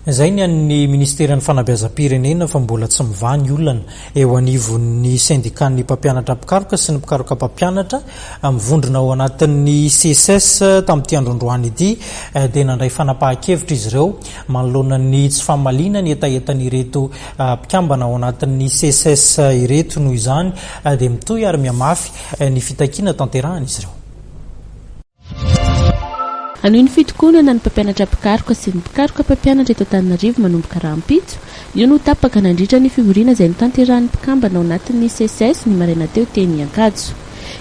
Izay ny an'ny Ministeran'ny Fanabeazam-pirenena fa mbola tsy mivaha ny olana eo anivon'ny sendikan'ny mpampianatra mpikaroka sy ny mpikaroka mpampianatra mivondrona ao anatin'ny CSS tamin'ity androandroany ity eh, dia nandray fanapahan-kevitra izy ireo manoloana ny tsy famaliana ny hetahetan'ireto eh, mpikambana ao anatin'ny CSS ireto noho izany eh, dia mitohy ary mihamafy ny fitakiana tanterahan'izy ireo. Hanohy ny fitokonana ny mpampianatra mpikaroka sy ny mpikaroka mpampianatra eto Antananarivo manomboka rahampitso. Io no tapaka nandritra ny fivoriana izay notanterahin'ny mpikambana ao anatin'ny Seces ny maraina teo teny Ankatso.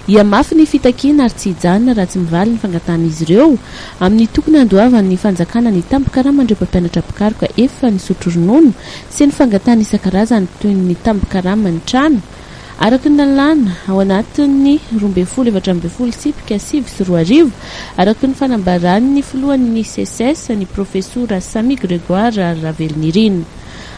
Hihamafy ny fitakiana ary tsy hijanona raha tsy mivaly ny fangatahan'izy ireo amin'ny tokony handoavan'ny fanjakana ny tambin-karaman'ireo mpampianatra mpikaroka efa nisotro ronono sy ny fangatahana isan-karazany toy ny tambin-karaman'ny trano Araka ny lalàna, ao anatin'ny roa ambin'ny folo efatra ambin'ny folo tsipika sivy sy roa arivo, araka ny fanambaran'ny filohan'ny Seces, ny Profesora Sammy Grégoire Ravelonirina.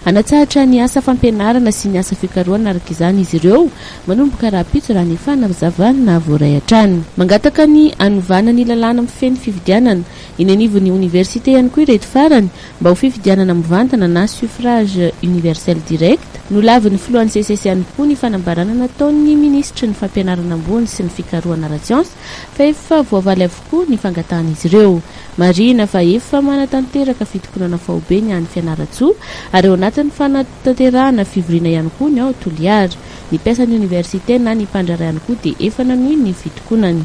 Hanatsahatra ny asa fampianarana sy ny asa fikarohana araka izany izy ireo, manomboka rahampitso raha ny fanazavana voaray hatrany. Mangataka ny hanovana ny lalàna mifehy ny fifidianana. Eny anivon'ny oniversite ihany koa ireto farany, mba ho fifidianana mivantana na suffrage universel direct, nolavin'ny filohan'ny SECES ihany koa ny fanambarana nataon'ny minisitry ny Fampianarana ambony sy ny fikarohana ara-tsiansa fa efa voavaly avokoa ny fangatahan'izy ireo. Marihina fa efa manatanteraka fitokonana faobe ny any Fianarantsoa ary ao anatin'ny fanatanterahana fivoriana ihany koa ny ao Toliara. Ny mpiasan'ny oniversite na ny mpandraharaha ihany koa dia efa nanohy ny fitokonany.